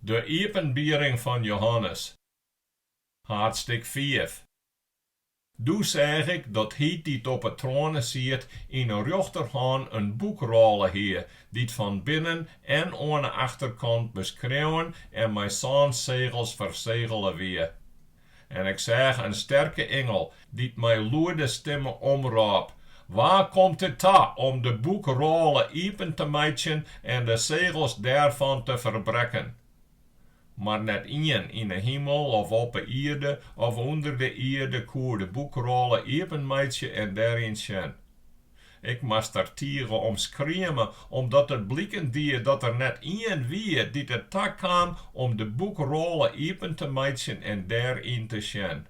De iepenbiering fan Johannes, haadsttik fiif. Doe seach ik dat Hy dy't op 'e troane siet yn 'e rjochterhân in boekrôle hie, dy't fan binnen en oan 'e achterkant beskreaun en mei sân segels fersegele wie. En ik seach in sterke ingel, dy't mei lûde stimme omrôp, Wa komt it ta om de boekrôle iepen te meitsjen en de segels dêrfan te ferbrekken? Mar net ien yn 'e himel of op 'e ierde of ûnder de ierde koe de boekrôle iepenmeitsje en dêryn sjen. Ik moast der tige om skrieme omdat it bliken die dat der net ien wie dy't it takaam om de boekrôle iepen te meitsjen en dêryn te sjen.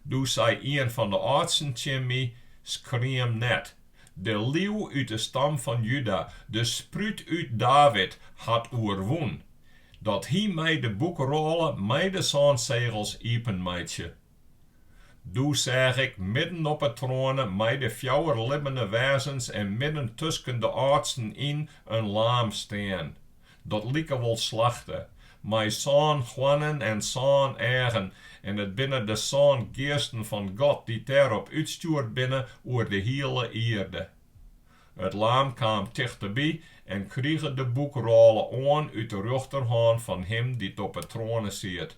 Doe sei ien fan de âldsten tsjin my, Skriem net. De Liuw út de stam fan Juda, de Sprút út David, hat oerwûn, dat hy mei de boekrôle mei de sân segels iepenmeitsje. Doe seach ik midden op 'e troane mei de fjouwer libbene wêzens en midden tusken de âldsten yn in laam stean, dat like wol slachte, mei sân hoarnen en sân eagen, en it binne de sân geasten fan God dy't dêrop útstjoerd binne oer de hiele ierde. It laam kaam tichteby en krige de boekrôle oan út de rjochterhân fan him dy't op 'e troane siet.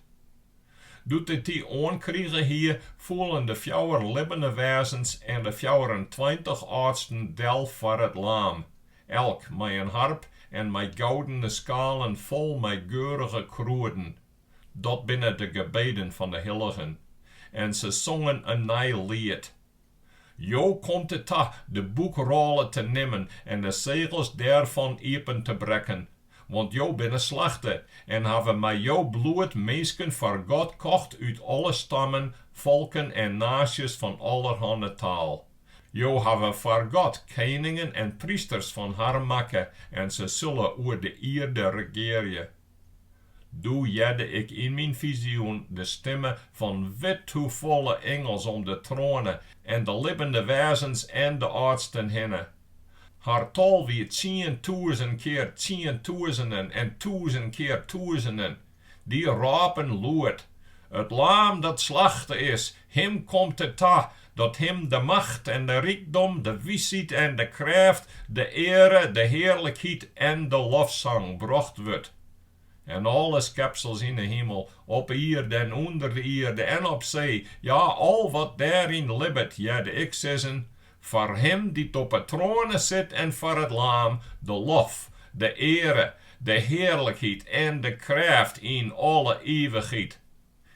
Doe't it dy oankrige hie, foelen de fjouwer libbene wêzens en de fjouwerentweintich âldsten del foar it Laam, elk mei in harp en mei goudene skalen fol mei geurige krûden. Dat binne de gebeden fan de hilligen. En se songen in nij liet. Jo komt it ta de boekrôle te nimmen en de segels dêrfan iepen te brekken, want jo binne slachte en hawwe mei jo bloed minsken foar God kocht út alle stammen, folken en naasjes fan allerhanne taal. Jo hawwe foar God keningen en prysters fan har makke en se sille oer de ierde regearje. Doe hearde ik yn myn fizioen de stimme fan withoefolle ingels om de troane en de libbende wêzens en de âldsten hinne. Har tal wie tsientûzen kear tsientûzenen en tûzen kear tûzenen. Dy rôpen lûd, It laam dat slachte is, Him komt it ta dat Him de macht en de rykdom, de wysheid en de krêft, de eare, de hearlikheid en de lofsang brocht wurdt. En alle skepsels yn 'e himel, op 'e ierde en ûnder de ierde en op see, ja, al wat dêryn libbet, hearde ik sizzen, Foar Him dy't op 'e troane sit en foar it Laam, de lof, de eare, de hearlikheid en de krêft yn alle ivichheid.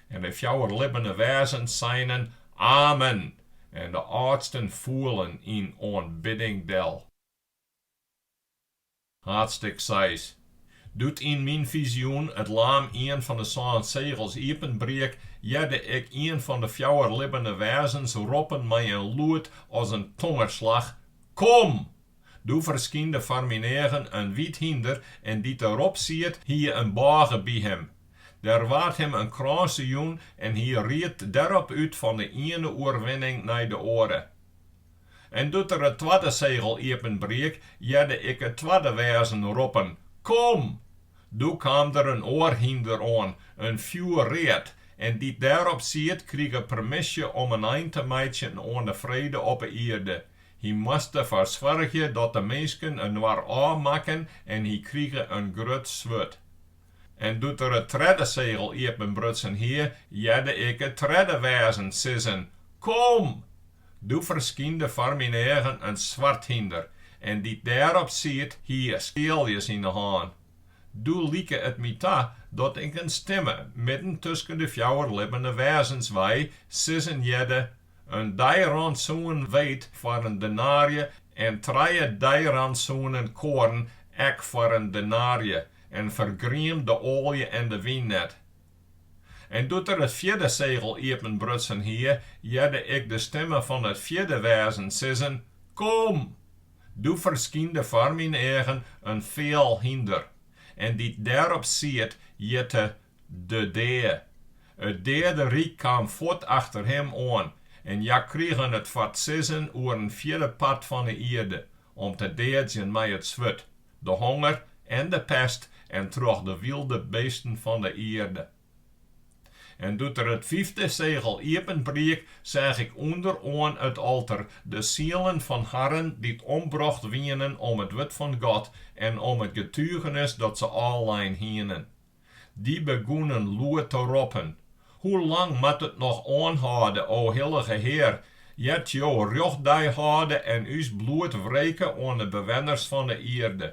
En de fjouwer libbene wêzens seinen, Amen! En de âldsten foelen yn oanbidding del. Haadstik seis. Doe't yn myn fizioen it laam ien fan de sân segels iepenbriek, hearde ik ien fan de fjouwer libbene wêzens roppen mei in lûd as in tongerslach, Kom! Doe ferskynde foar myn eagen in wyt hynder en dy't der op siet hie in bôge by him. Der waard him in krânse jûn en hy ried derop út fan de iene oerwinning nei de oare. En doe't er it twadde segel iepenbriek, hearde ik it twadde wêzen roppen, Kom! Doe kaam der in oar hynder oan, in fjoerread, en dy't dêrop siet krige permisje om in ein te meitsjen oan de frede op 'e ierde, Hy moast derfoar soargje dat de minsken inoar ôfmakken en hy krige in grut swurd. En doe't er it tredde segel iepenbrutsen hie, hearde ik it tredde wêzen sizzen, Kom! Doe ferskynde foar myn eagen in swart hynder, en dy't dêrop siet hie skealjes yn 'e hân. Doe like it my ta dat ik in stimme midden tusken de fjouwer libbene wêzens wei, sizzen hearde, In deirantsoen weet foar in denaarje en trije deirantsoenen koarn ek foar in denaarje en fergriem de oalje en de wyn net. En doe't er it fjirde segel iepenbrutsen hie, hearde ik de stimme fan it fjirde wêzen sizzen, Kom! Doe ferskynde foar myn eagen in feal hynder, en dy't dêrop siet, hjitte de dea. It deaderyk kaam fuort achter him oan en hja krigen it foar 't sizzen oer in fjirde part fan 'e ierde om te deadzjen mei it swurd, de honger en de pest en troch de wylde beesten fan 'e ierde. En doe't er it fyfde segel iepenbriek, seach ik ûnder oan it alter de sielen fan harren dy't ombrocht wienen om it wurd fan God en om it getugenis dat se ôflein hienen. Dy begûnen lûd te roppen, Hoe lang moat it noch oanhâlde, o hillige Hear, ear't Jo rjochtdei hâlde en ús bloed wreke oan de bewenners fan de ierde?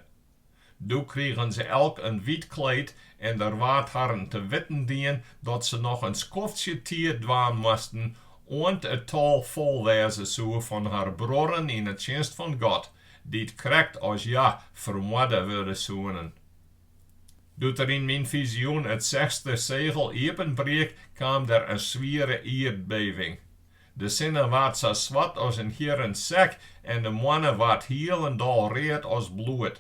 Doe krigen se elk in wyt kleed en der waard harren te witten dien dat se noch in skoftsje tiid dwaan moasten, oant it tal fol wêze soe fan har bruorren yn 'e tsjinst fan God, dy't krekt as hja fermoarde wurde soenen. Doe't er yn myn fizioen it sechste segel iepenbriek, kaam der in swiere ierdbeving. De sinne waard sa swart as in hierren sek en de moanne waard hielendal read as bloed.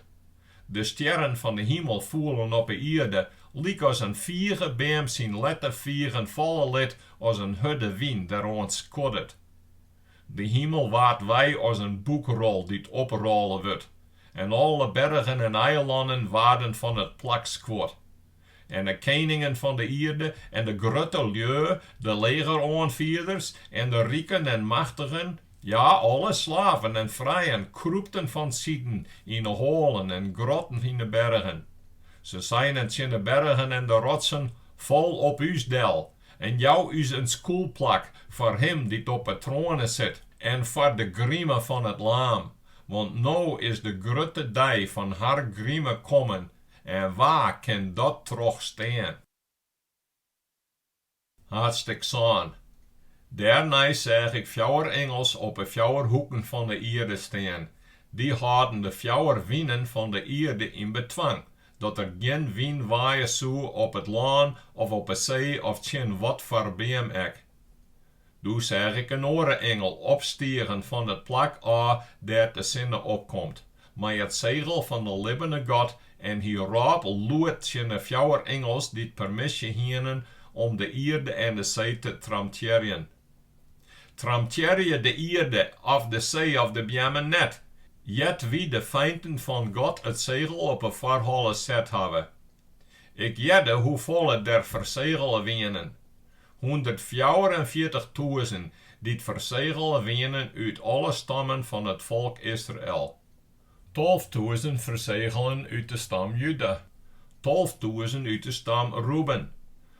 De stjerren fan de himel foelen op 'e ierde, lykas in figebeam syn lette figen falle lit as in hurde wyn deroan skoddet. De himel waard wei as in boekrol dy't oprôle wurdt, en alle bergen en eilannen waarden fan it plak skuord. En de keningen fan de ierde en de grutte lju, de legeroanfierders en de riken en machtigen, ja, alle slaven en frijen, krûpten fansiden yn de hoalen en grotten yn de bergen. Se seinen tsjin de bergen en de rotsen, Fal op ús del, En jou ús in skûlplak foar Him dy't op 'e troane sit en foar de grime fan it Laam, want no is de grutte dei fan har grime kommen, en wa kin dat trochstean? Haadstik sân. Dêrnei seach ik fjouwer ingels op 'e fjouwer hoeken fan 'e ierde stean. Dy hâlden de fjouwer winen fan 'e ierde yn betwang, Dat der gjin wyn waaie soe op it lân of op 'e see of tsjin watfoar beam ek. Doe seach ik in oare ingel opstigen fan it plak ôf dêr't de sinne opkomt, mei it segel fan de libbene God, en hy rôp lûd tsjin 'e fjouwer ingels dy't permisje hienen om de ierde en de see te tramtearjen. Tramtearje de ierde of de see of de beammen net, ear't wy de feinten fan God it segel op 'e foarholle set hawwe. Ik hearde hoefolle der fersegele wienen, hûndertfjouwerenfjirtichtûzen dy't fersegele wienen út alle stammen fan it folk Israel, tolftûzen fersegelen út de stam Juda, tolftûzen út de stam Ruben,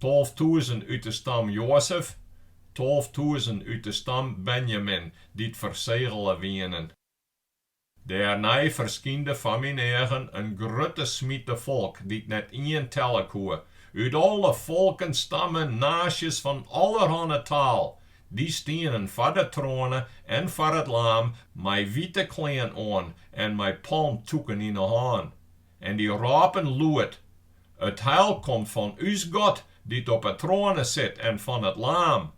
Tolftûzen út de stam Joazef, tolftûzen út de stam Benjamin, dy't fersegele wienen. Dêrnei ferskynde foar myn eagen in grutte smite folk, dy't net ien telle koe, út alle folken, stammen, naasjes, fan allerhanne taal, dy stienen foar de troane en foar it Laam mei wite klean oan en mei palmtûken yn 'e hân. En dy rôpen lûd, It heil komt fan ús God, dy't op 'e troane sit, en fan it Laam.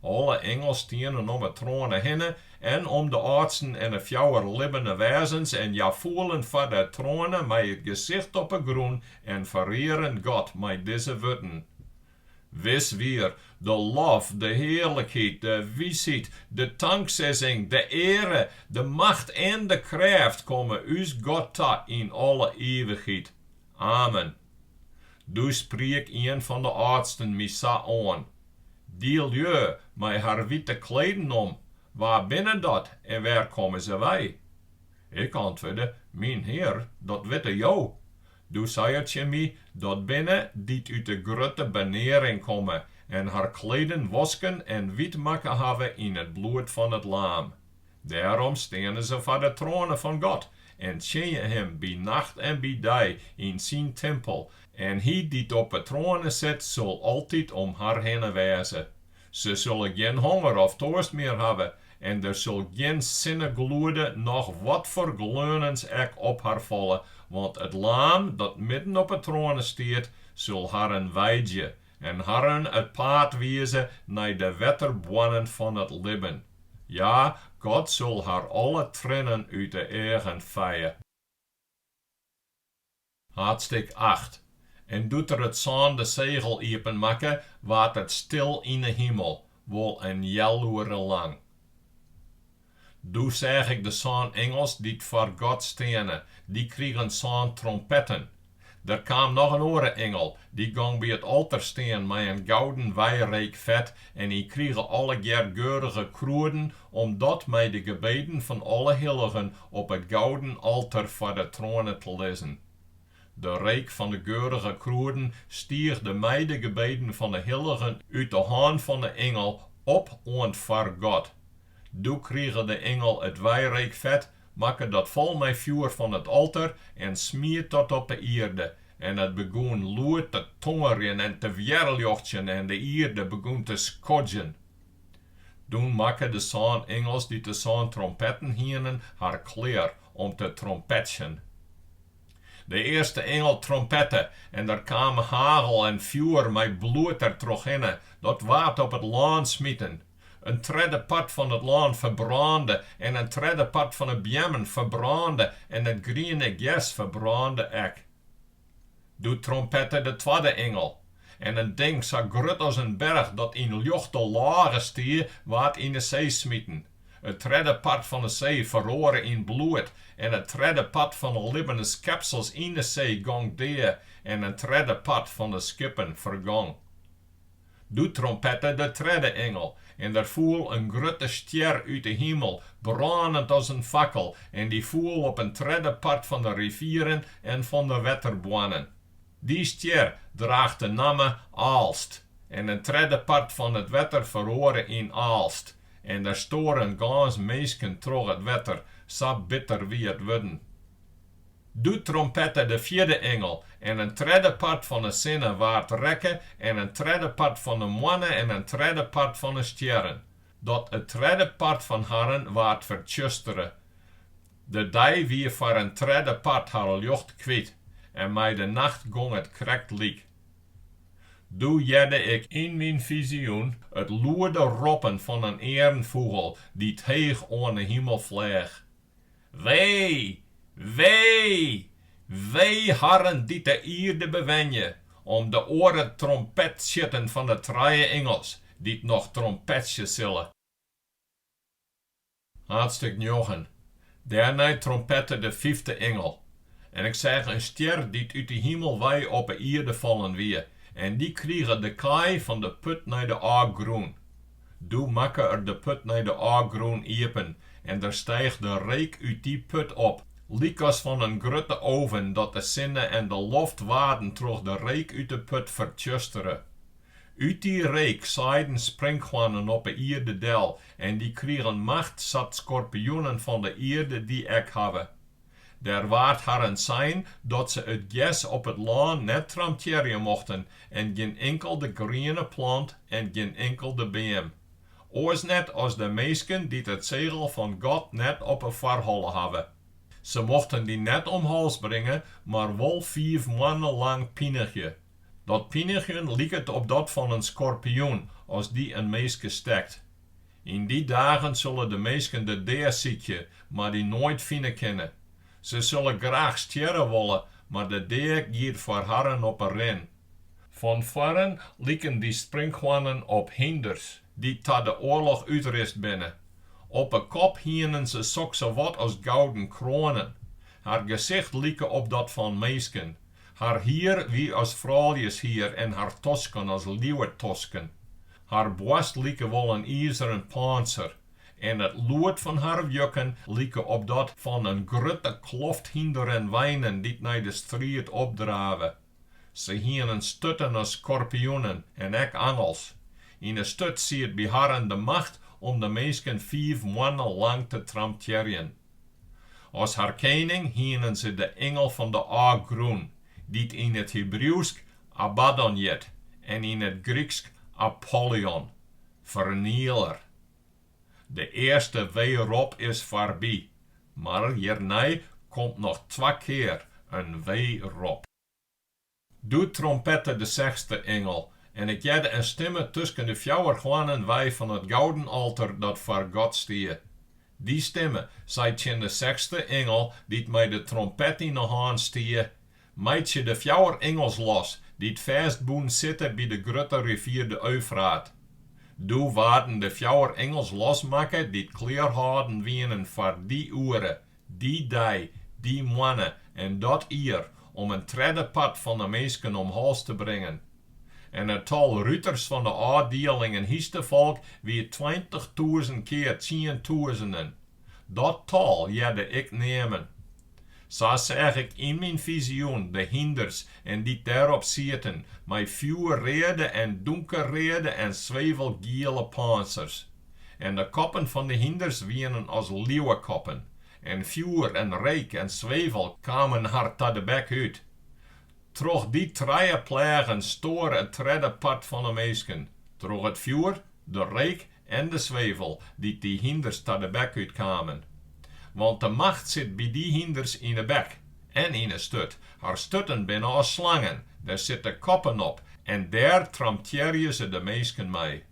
Alle ingels stienen om 'e troane hinne en om de âldsten en 'e fjouwer libbene wêzens en hja foelen foar de troane mei it gesicht op 'e grûn en ferearen God mei dizze wurden, Wis wier de lof, de hearlikheid, de wysheid, de tanksegging, de eare, de macht en de krêft komme ús God ta yn alle ivichheid. Amen. Doe spriek ien fan de âldsten my sa oan, Dy lju mei har wite kleden om, wa binne dat en wêr komme se wei? Ik antwurde, Myn Hear, dat witte jo. Doe sei er tsjin my, Dat binne dy't út de grutte benearing komme en har kleden wosken en wyt makke hawwe yn it bloed fan it Laam. Dêrom steane se foar de troane fan God en tsjinje Him by nacht en by dei yn Syn timpel, en Hy dy't op 'e troane sit sil altyd om har hinne wêze. Se sille gjin honger of toarst mear hawwe en der sil gjin sinnegloede noch watfoar gleunens ek op har falle, want it Laam dat midden op 'e troane stiet, sil harren weidje en harren it paad wize nei de wetterboarnen fan it libben. Ja, God sil har alle triennen út 'e eagen feie. Haadstik acht. En doe't er it sânde segel iepenmakke, waard it stil yn 'e himel, wol in healoere lang. Doe seach ik de sân ingels dy't foar God steane, dy krigen sân trompetten. Der kaam noch in oare ingel, dy gong by it alter stean mei in gouden wijreekfet en hy krige allegear geurige krûden om dat mei de gebeden fan alle hilligen op it gouden alter foar de troane te lizzen. De reek fan de geurige krûden stiigde mei de gebeden fan de hilligen út de hân fan de ingel op oan't foar God. Doe krige de ingel it wijreekfet, makke dat fol mei fjoer fan it alter en smiet dat op de ierde, en it begûn lûd te tongerjen en te wjerrljochtsjen en de ierde begûn te skodjen. Doe makken de sân ingels dy't de sân trompetten hienen har klear om te trompetsjen. De earste ingel trompette en der kaam hagel en fjoer mei bloed der trochhinne, dat waard op it lân smiten. In tredde part fan it lân ferbrânde en in tredde part fan 'e beammen ferbrânde en it griene gers ferbrânde ek. Doe trompette de twadde ingel, en in ding sa grut as in berch dat yn ljochte lôge stie, waard yn 'e see smiten. It tredde part fan 'e see feroare yn bloed, en it tredde part fan 'e libbene skepsels yn 'e see gong dea, en in tredde part fan 'e skippen fergong. Doe trompette de tredde ingel, en der foel in grutte stjer út de himel, brânend as in fakkel, en dy foel op in tredde part fan de rivieren en fan de wetterboarnen. Dy stjer draacht de namme Aalst, en in tredde part fan it wetter feroare yn aalst, en der stoaren gâns minsken troch it wetter, sa bitter wie it wurden. Doe trompette de fjirde ingel, en in tredde part fan 'e sinne waard rekke, en in tredde part fan 'e moanne en in tredde part fan 'e stjerren, dat it tredde part fan harren waard fertsjustere. De dei wie foar in tredde part har ljocht kwyt, en mei de nacht gong it krekt lyk. Doe hearde ik yn myn fizioen it lûde roppen fan in earnfûgel dy't heech oan 'e himel fleach. Wee! Wee! Wee harren dy't de ierde bewenje, om de oare trompetstjitten fan 'e trije ingels, dy't noch trompetsje sille. Haadstik njoggen. Dêrnei trompette de fyfde ingel. En ik seach in stjer dy't út 'e himel wei op 'e ierde fallen wie, en dy krige de kaai fan de put nei de ôfgrûn. Doe makke er de put nei de ôfgrûn iepen en der stiigde reek út dy put op, lykas fan in grutte oven, dat de sinne en de loft waarden troch de reek út de put fertsjustere. Ut dy reek saaiden sprinkhoannen op 'e ierde del en dy krigen macht, sa't skorpioenen fan de ierde dy ek hawwe. Der waard harren sein dat se it gers op it lân net tramtearje mochten en gjin inkelde griene plant en gjin inkelde beam. Oars net as de minsken dy't it segel fan God net op 'e foarholle hawwe. Se mochten dy net om hals bringe, mar wol fiif moanne lang pinigje. Dat pinigjen liket op dat fan in skorpioen as dy in minske stekt. Yn dy dagen sille de minsken de dea sykje, mar dy noait fine kinne. Se sille graach stjerre wolle, mar de dea giet foar harren op 'e rin. Fan foaren liken dy sprinkhoannen op hynders, dy't ta de oarloch útrist binne. Op 'e kop hienen se sokssawat as gouden kroanen. Har gesicht like op dat fan minsken. Har hier wie as frouljeshier en har tosken as liuwetosken. Har boarst like wol in izeren pânser en it lûd fan har wjukken like op dat fan in grutte kloft hynders en weinen dy't nei de striid opdrave. Se hienen sturten as skorpioenen en ek angels. Yn 'e sturt siet by harren de macht om de minsken fiif moanne lang te tramtearjen. As har kening hienen se de ingel fan de ôfgrûn, dy't yn it Hibriuwsk Abaddon hjit en yn it Gryksk Apollyon, fernieler. De earste wee rop is foarby, mar hjirnei komt noch twa kear in wee rop. Doe trompette de sechste ingel, en ik hearde in stimme tusken de fjouwer hoarnen wei fan it gouden alter dat foar God stie. Dy stimme sei tsjin de sechste ingel dy't mei de trompet yn 'e hân stie, Meitsje de fjouwer ingels los, dy't fêstbûn sitte by de grutte rivier de Eufraat. Doe waarden de fjouwer ingels losmakke dy't klear hâlden wienen foar dy oere, dy dei, dy moanne en dat jier om in tredde part fan de minsken om hals te bringen. En it tal ruters fan de ôfdielingen hynstefolk wie tweintichtûzen kear tsientûzenen. Dat tal hearde ik neamen. Sa seach ik yn myn fizioen de hynders en dy't dêrop sieten mei fjoerreade en dûnkerreade en swevelgiele pântsers. en de koppen fan de hynders wienen as liuwekoppen, en fjoer en reek en swevel kamen har ta de bek út. Troch dy trije pleagen stoar it tredde part fan 'e minsken, troch it fjoer, de reek en de swevel dy't dy hynders ta de bek út kamen. Want de macht sit by dy hynders yn 'e bek en yn 'e sturt, har sturten binne as slangen, dêr sitte koppen op en dêr tramtearje se de minsken mei.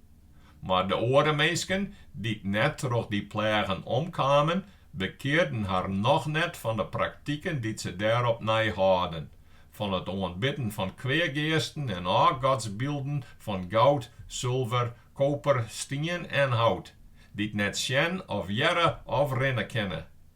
Mar de oare minsken, dy't net troch dy pleagen omkamen, bekearden har noch net fan de praktiken dy't se dêrop nei hâlden, fan it oanbidden fan kweageasten en ôfgodsbylden fan goud, sulver, koper, stien en hout, dy't net sjen of hearre of rinne kinne.